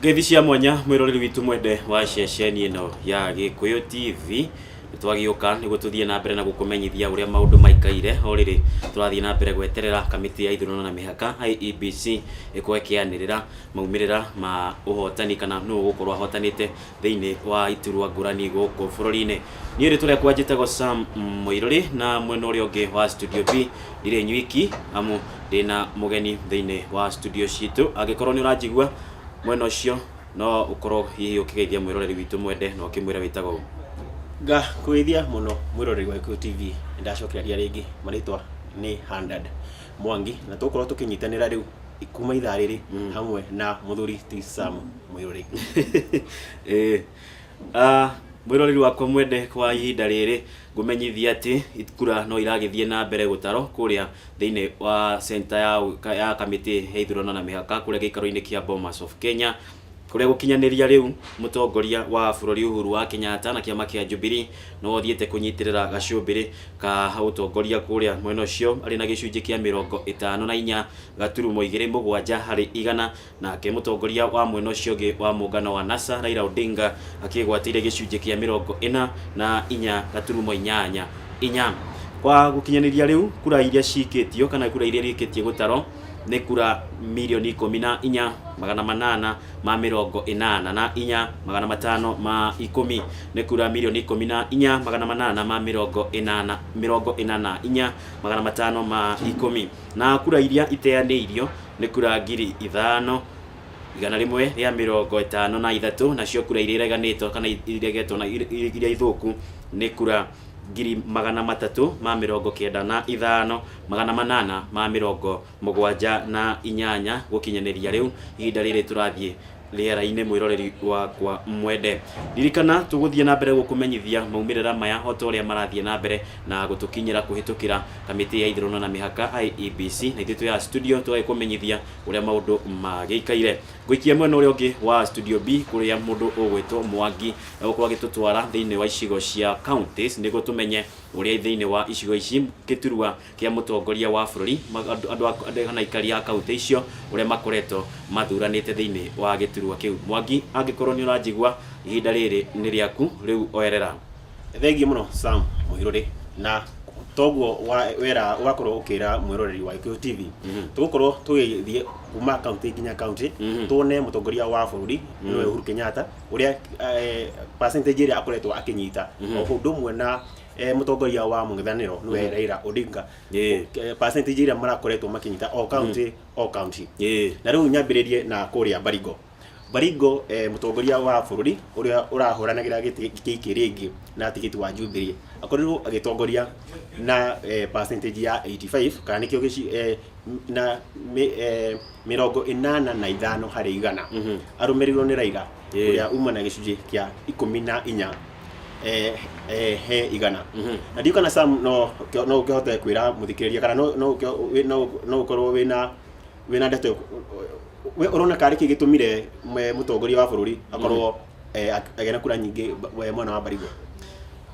Ngeithi cia mwanya mwĩroreri witũ mwende wa ceceni ĩno ya Gĩkũyũ TV nĩtwagĩũka nĩguo tũthiĩ na mbere na gũkũmenyithia ũrĩa maũndũ maikaire o rĩrĩ tũrathiĩ na mbere gweterera kamĩtĩ ya ithurano na mĩhaka IEBC ĩkorwo ĩkĩanĩrĩra maumĩrĩra ma ũhotani kana nũ ũgũkorwo ahotanĩte thĩinĩ wa iturwa ngũrani gũkũ bũrũri-inĩ niĩ rĩtwa rĩakwa njĩtagwo sam mũirũrĩ na mwena ũrĩa ũngĩ wa studio b ndirĩ nywiki amu ndĩna mũgeni thĩinĩ wa studio citũ angĩkorwo nĩ ũranjigua mwena ũcio no ũkorwo hihi ũkĩgeithia mwĩroreri witũ mwende na ũkĩmwĩra wĩtagwo ũũ. ngakũgeithia mũno mwĩroreri wa Gĩkũyũ TV ndacokereria rĩngĩ marĩtwa nĩ Handad Mwangi na tũgũkorwo tũkĩnyitanĩra rĩu kuma ithaa rĩrĩ hamwe na mũthuri ti Sam mwĩroreri Eh, ah, mwĩroreri wakwa mwende kwa ihinda rĩrĩ ngũmenyithia atĩ kura no iragĩthiĩ na mbere gũtarwo kũrĩa thĩinĩ wa center ya, ka- ya kamĩtĩ ya ithurano na mĩhaka kũrĩa gĩikaro-inĩ kĩa Bomas of Kenya kũrĩa gũkinyanĩria rĩu mũtongoria wa bũrũri Uhuru wa Kenyatta na kĩama kĩa Jubilee no athiĩte kũnyitĩrĩra gacũmbĩrĩ ka ũtongoria kũrĩa mwena ũcio arĩ na gĩcunjĩ kĩa mĩrongo ĩtano na inya gaturumo igĩrĩ mũgwanja harĩ igana Nake mũtongoria wa mwena ũcio ũngĩ wa mũngano wa NASA Raila Odinga akĩgwatĩire gĩcunjĩ kĩa mĩrongo ĩna na inya gaturumo inyanya inya. Kwa gũkinyanĩria rĩu kura iria ciikĩtio kana kura iria irĩkĩtie gũtarwo nĩ kura mirioni ikũmi na inya magana manana ma mĩrongo ĩnana na inya magana matano ma ikũmi nĩ kura mirioni ikũmi na inya magana manana ma mĩrongo ĩnana mĩrongo ĩna na inya magana matano ma ikũmi. Na kura iria iteanĩirio nĩ kura ngiri ithano, igana rĩmwe rĩa mĩrongo ĩtano na ithatũ, nacio kura iria ireganĩtwo kana iregetwo na iria ithũku nĩ kura ngiri magana matatũ ma mĩrongo kenda na ithano, magana manana ma mĩrongo mũgwanja na inyanya, gũkinyanĩria rĩu ihinda rĩrĩ tũrathiĩ rĩera-inĩ mwĩroreri wakwa mwende ririkana tũgũthiĩ na mbere gũkũmenyithia maumĩrĩra maya o ta ũrĩa marathiĩ na mbere na gũtũkinyĩra kũhĩtũkĩra kamĩtĩ ya ithurano na mĩhaka IEBC na ithuĩ twĩ haha studio tũgagĩkũmenyithia ũrĩa maũndũ magĩikaire ngũikia mwena ũrĩa ũngĩ wa studio B kũrĩa mũndũ ũgwĩtwo Mwangi egũkorwo agĩtũtwara thĩinĩ wa icigo cia counties nĩguo tũmenye ũrĩa thĩinĩ wa icigo ici Gĩturwa kĩa mũtongoria wa bũrũri, andũ kana aikari a kauntĩ icio ũrĩa makoretwo mathuranĩte thĩinĩ wa gĩturwa kĩu. Mwangi, angĩkorwo nĩ ũranjigua, ihinda rĩrĩ nĩ rĩaku, rĩu oerera. Thengiũ mũno Sam Mũhirũrĩ, na toguo wera ũgakorwo ũkĩra mwĩroreri wa Gĩkũyũ TV. Tũgũkorwo tũgĩthiĩ kuma kauntĩ nginya kauntĩ, tuone mũtongoria wa bũrũri nĩwe Uhuru Kenyatta, ũrĩa percentage ĩrĩa akoretwo akĩnyita, o ũndũ ũmwe na eh, mũtongoria wa mũng'ethanĩro nĩwe Raila Odinga Ĩĩ. Eh, percentage iria marakoretwo makinyita o county o county Ĩĩ. na rĩu nyambĩrĩrie na kũrĩa Baringo Baringo eh, mũtongoria wa bũrũri ũrĩa ũrahũranagĩra gĩtĩ gĩkĩ rĩngĩ na tigiti wa Jubilee akorirwo agĩtongoria na eh, percentage ya 85 kana nĩkĩo gĩci- eh, m- na mĩ- eh, mĩrongo ĩnana na ithano harĩ igana arũmĩrĩirwo nĩ Raila Ĩĩ. ũrĩa uma na gĩcunjĩ kĩa ikũmi na inya eh, eh, he igana na ndiũ kana sam no kĩ- no ũkĩhote kwĩra mũthikĩrĩria kana no- no ũkĩ- wĩ- no- no ũkorwo wĩna wĩna ndeto we ũrona karĩ kĩ gĩtũmire mwe- mũtongoria wa bũrũri akorwo eh, ak- agĩa na kura nyingĩ ba- we- mwena wa mbarigwa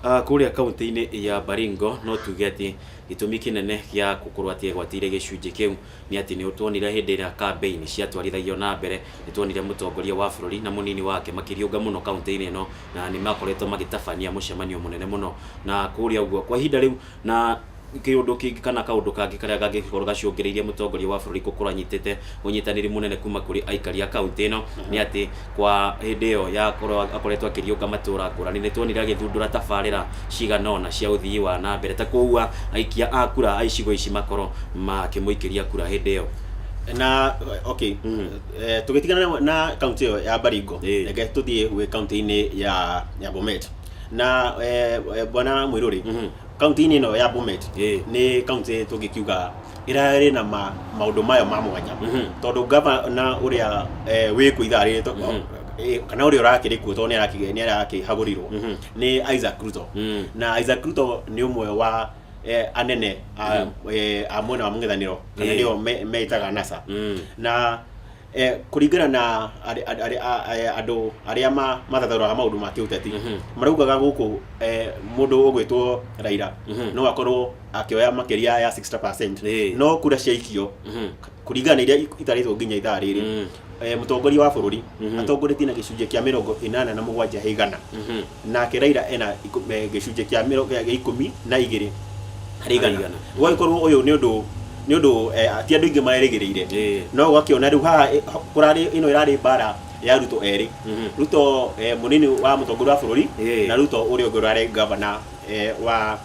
Ah, kũrĩa kaunti-inĩ ya baringo no tuge atĩ gĩtũmi kĩnene gĩa gũkorwo atĩ egwatĩire gĩcunjĩ kĩu Nĩ atĩ nĩ tuonire hĩndĩ ĩrĩa kambĩini ciatwarithagio na mbere, nĩ tuonire mũtongoria wa bũrũri na mũnini wake makĩriũnga mũno kauntĩ-inĩ ĩno, na nĩ makoretwo magĩtabania mũcemanio mũnene mũno na kũrĩa ũguo. Kwa ihinda rĩu na kĩũndũ kĩngĩ kana kaũndũ kangĩ karĩa kangĩkorwo gacũngĩrĩirie mũtongoria wa bũrũri gũkorwo anyitĩte ũnyitanĩri mũnene kuma kũrĩ aikari a kauntĩ ĩno nĩ atĩ, kwa hĩndĩ ĩyo ya korwo akoretwo akĩriũnga matũũra ngũrani nĩ tuonire agĩthundũra tabarĩra cigana ũna cia ũthii wa na mbere ta kũua aikia a kura a icigo ici makoro makĩmũikĩria kura hĩndĩ ĩyo na okay mm. eh, tũgĩtigana na kaunti ĩyo ya Baringo eh. reke tũthiĩ gwĩ kaunti-inĩ ya ya Bomet na eh, bwana Mwiruri mm -hmm. kaunti-inĩ ĩno ya Bomet eh. nĩ kaunti tũngĩkiuga ĩrarĩ na ma, maũndũ mayo ma mwanya Mhm. tondũ ngavana ũrĩa eh, wĩ kũ ithaa rĩrĩ to- Mhm. eh, kana ũrĩa ũrakĩrĩ kuo tondũ nĩaraki- nĩarakĩhagũrirwo Mhm. nĩ isaac ruto Mm. na isaac ruto nĩ ũmwe wa eh, anene a, eh, a mwena wa mũng'ethanĩro kana Eh. nĩo me- metaga nasa Mm. na Eh, kũringana na arĩ- arĩ- arĩ- a- a- andũ arĩa ma- mathathaũraga maũndũ ma kĩũteti Mhm. maraugaga gũkũ eh, mũndũ ũgwĩtwo raira Mhm. no akorwo akĩoya makĩria ya 60 Ĩĩ. no kura ciaikio Mhm. kũringana na iria ik- itarĩtwo nginya ithaa rĩrĩ Mm. eh, mũtongoria wa bũrũri Mhm. atongoretie na gĩcunjĩ kĩa mĩrongo ĩnana na mũgwanja he igana Mhm. Nake Raila ena ikũ- eh, gĩcunjĩ kĩa mĩro- gĩa ikũmi na igĩrĩ harĩ igana igana. gũgagĩkorwo ũyũ nĩ ũndũ nĩ ũndũ eh, ti andũ aingĩ marerĩgĩrĩire Ĩĩ. no ũgakĩona rĩu haha eh, ho- kũrarĩ ĩno ĩrarĩ mbara ya ruto erĩ Mhm. ruto eh, mũnini wa mũtongoria wa bũrũri Ĩĩ. na ruto ũrĩa ũngĩ ũrarĩ gavana eh, wa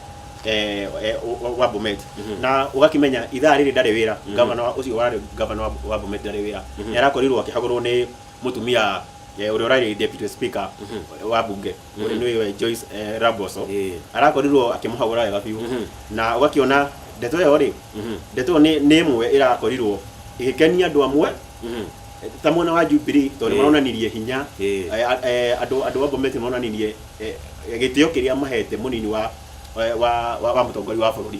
eh, eh, wa- wa bomet Mhm. na ũgakĩmenya ithaa rĩrĩ ndarĩ wĩra gavana wa- ũcio warĩ gavana wa- wa bomet ndarĩ wĩra Mhm. nĩ arakorirwo akĩhagũrwo nĩ mutumia eh, uria urari deputy speaker wa bunge uria niwe Joyce eh, Raboso Eh. arakorirwo akimuhagura wega biu Mhm. na ugakiona ndeto iyo ri Mhm. ndeto iyo ni ni imwe irakorirwo igikenia andu amwe Mhm. ta mwena wa Jubilee tondu Eh. maronanirie hinya Eh. Eh, a- eh, andu andu wa Bomet maronanirie eh, gitio kiria mahete munini wa eh, wa wa, wa mutongoria wa bururi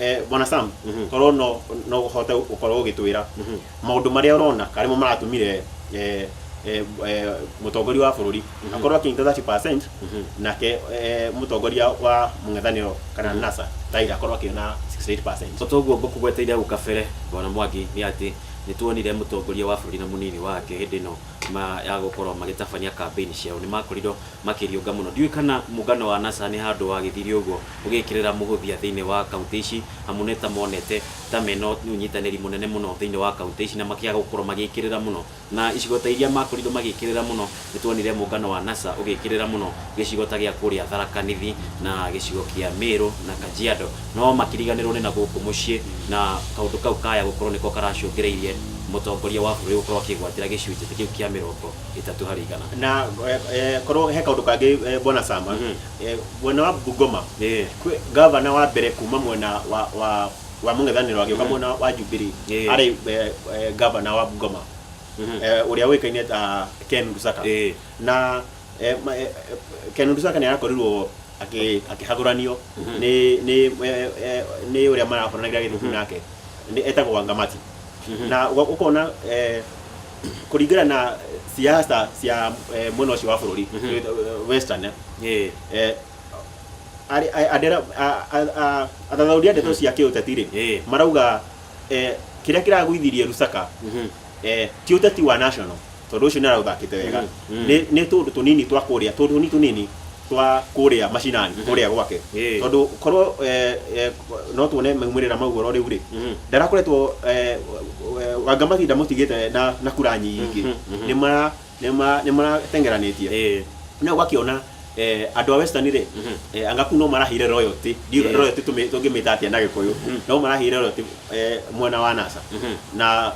Eh, bwana sam Mhm. korwo no no uhote gukorwo ugitwira Mhm. maundu maria urona karimo maratumire eh, eh, eh, mutongoria wa bururi akorwo akinyita 30% Mhm. nake eh, mutongoria wa mung'ethaniro kana nasa taira akorwo akiona 68% Bata ũguo ngũkũgweteire hau kabere bwana Mwangi nĩ atĩ nĩ tuonire mũtongoria wa bũrũri na mũnini wake hĩndĩ ĩno ma ya gũkorwo magĩtabania kambĩini ciao nĩ makorirwo makĩriũnga mũno. Ndiũĩ kana mũngano wa NASA nĩ handũ wagĩthire ũguo ũgĩkĩrĩra mũhũthia thĩinĩ wa kauntĩ ici, amu nĩ ta monete ta mena ũnyitanĩri mũnene mũno thĩinĩ wa kauntĩ ici na makĩaga gũkorwo magĩkĩrĩra mũno. Na icigo ta iria makorirwo magĩkĩrĩra mũno, nĩ tuonire mũngano wa NASA ũgĩkĩrĩra mũno gĩcigo ta gĩa kũrĩa Tharaka Nithi na gĩcigo kĩa Mĩrũ na Kajiado. No makĩriganĩrwo nĩ na gũkũ mũciĩ na kaũndũ kau kaya gũkorwo nĩko karacũngĩrĩirie mũtongoria wa bũrũri gũkorwo akĩgwatĩra gĩcunjĩ kĩu kĩa mĩrongo ĩtatũ harĩ igana na eh, eh, korwo he kaundu kangi eh, bwana sama Mhm. eh, mwena wa bungoma Eh. kwĩ gavana wa mbere kuma mwena wa wa wa mũng'ethanĩro agĩũka mwena wa jubilee Eh. arĩ eh, eh, gavana wa bungoma Mhm. eh, ũrĩa ũĩkaine ta ken rusaka Eh. na eh, ma- eh, eh, ken rusaka nĩ arakorirwo akĩ- akĩhagũranio Mhm. nĩ nĩ eh, eh, nĩ ũrĩa marakoranagira gĩthubu nake Nĩ- etagwo wangamati Mhm. na ũga- ũkona eh, kũringana na siasa cia eh, mwena ũcio wa bũrũri eh, western eh, Eh, eh, arĩ- a- andera- a- a- a- athathaũri a ndeto cia kĩũteti rĩ Eh. marauga eh, kĩrĩa kĩragũithirie rusaka mhm. eh, ti ũteti wa national tondũ ũcio nĩ araũthakĩte wega Mhm, mhm. Nĩ- nĩ tũndũ tũnini twa kũrĩa tũndũ tũnini tũnini twa kũrĩa macinani Mhm. kũrĩa gwake Ĩĩ. tondũ korwo eh, eh, no tuone maumĩrĩra mau ũhoro rĩu rĩ Mhm. ndarakoretwo eh, eh, wanga mahinda mũtigĩte na, na kura nyingĩ Mhm, mhm. nĩ mara- nĩ mara- nĩ maratengeranĩtie Ĩĩ. na ũgakĩona eh, andũ a western rĩ Mhm. eh, anga kuu no marahire royalty Ndiũ- Ĩĩ. royalty tũmĩ- tũngĩmĩta atĩa na gĩkũyũ Mhm. no marahire royalty eh, mwena wa nasa Mhm. na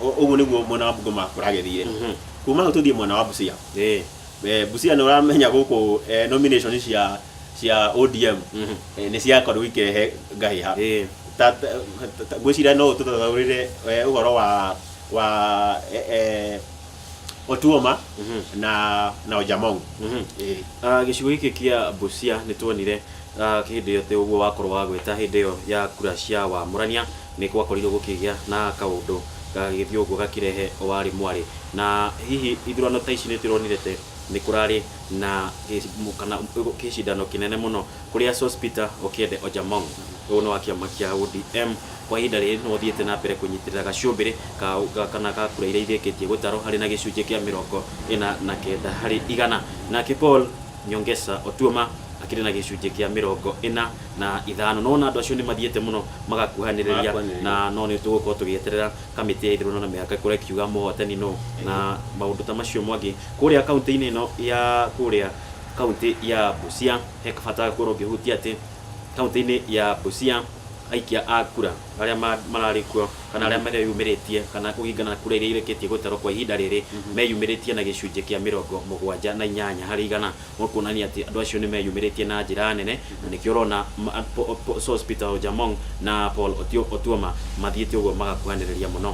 ũ- ũguo nĩguo mwena wa bungoma kũragethire Mhm. kuma hau tũthiĩ mwena wa busia Ĩĩ. Eh, Busia nä å ramenya gå kå eh, nomination cia cia ODM Mhm. eh, nä ciakorirwo ikirehe ngahä ha Eh. ngwä cira no å tå tathaå rä re å horo wa wa eh, eh, otuoma Mhm. na na ojamong Mhm. Eh. Ah, gĩcigo gĩkĩ kĩa Busia nĩ tuonire ah, hĩndĩ ĩyo atĩ ũguo wakorwo wagweta hĩndĩ ĩyo ya kura cia wamũrania Nĩ gwakorirũo gũkĩgĩa na kaũndũ gagĩthiĩ ũguo gakĩrehe o warĩ mwarĩ. Na hihi ithurano ta ici nĩ tũronire te, nĩ kũrarĩ na kana kĩcindano kĩnene mũno kũrĩa Sospeter Okiende Ojamong, ũyũ nĩ wa kĩama kĩa ODM, kwa ihinda rĩrĩ nĩwe ũthiĩte na mbere kũnyitĩrĩra gacũmbĩrĩ ka kana ga kura iria irĩkĩtie gũtarwo arĩ na gĩcunjĩ kĩa mĩrongo ĩna na kenda harĩ igana. Nake Paul. Nyongesa Otuoma akĩrĩ na gĩcunjĩ kĩa mĩrongo ĩna na ithano. No ona andũ acio nĩmathiĩte mũno magakuhanĩrĩria na no nĩtũgũkorwo tũgĩeterera kamĩtĩ ya ithurano na mĩhaka ĩkorwo ĩkiuga mũhotani nũ na maũndũ ta macio Mwangi. Kũrĩa kauntĩ-inĩ ĩno ya kũrĩa kauntĩ ya Busia he bata ũngĩkorwo ũkĩhutia atĩ kauntĩ-inĩ ya Busia aikia a kura arĩa mararĩ kuo kana arĩa mareyumĩrĩtie kana kũringana na kura iria irĩkĩtie gũtarwo kwa ihinda rĩrĩ meyumĩrĩtie na gĩcunjĩ kĩa mĩrongo mũgwanja na inyanya harĩ igana kuonania atĩ andũ acio nĩ meyumĩrĩtie na njĩra nene na nĩkĩo ũrona Sos Peter Ojamong na Paul Otuoma mathiĩte ũguo magakuhanĩrĩria mũno.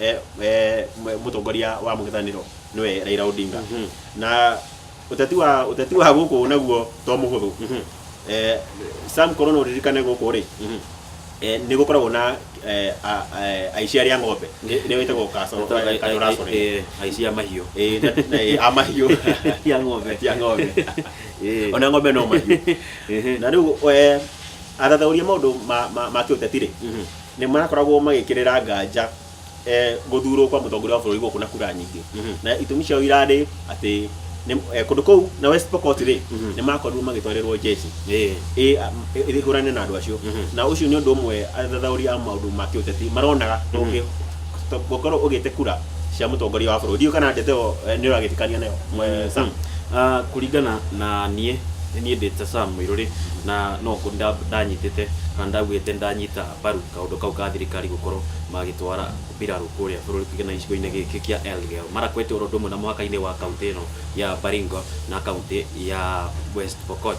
eh, eh, mwe- mũtongoria wa mũng'ethanĩro nĩwe Raila Odinga Mhm. na ũteti wa ũteti wa gũkũ naguo to mũhũthũ Mhm. eh, Sam Korona ũririkane gũkũ rĩ Mhm. eh, nĩ gũkoragwo na eh, a- a- aici arĩa ng'ombe nĩ- nĩo ĩtagwo kasoro kasoro Eh, aici a mahiũ eh na- na- eh, a mahiũ ya ng'ombe ya ng'ombe Eh, ona ng'ombe no mahiũ eh, na rĩu eh, athathauria maũndũ ma- ma ma kĩũteti rĩ mhm. nĩ marakoragwo magĩkĩrĩra nganja eh, gũthurwo kwa mũtongoria wa bũrũri gũkũ na kura nyingĩ Mhm. na itũmi ciao irarĩ atĩ nĩ- eh, kũndũ kũu na West Pokot rĩ Mhm. nĩ makorirwo magĩtwarĩrwo jeshi Ĩĩ. ĩ- a- ĩ- ĩhũrane na andũ acio Mhm. na ũcio nĩ ũndũ ũmwe athathaũri a maũndũ ma kĩũteti maronaga ndũngĩ gũkorwo ũgĩte kura cia mũtongoria wa bũrũri ndiũ kana ndeto ĩyo eh, nĩ ũragĩtikania nayo eh, Sam. Ah, kũringana na niĩ nĩ niĩ ndĩte Sam Mũirũrĩ na no ngũ- nda- ndanyitĩte kana ndaugĩte ndanyitĩte ta mbaru kaũndũ kau ka thirikari gũkorwo magĩtwara mbirarũ kũrĩa bũrũri tuge na gĩcigo-inĩ gĩkĩ kĩa Elgeyo Marakwet oro ũndũ ũmwe na mũhaka-inĩ wa kauntĩ ĩno ya Baringo na kauntĩ ya West Pokot.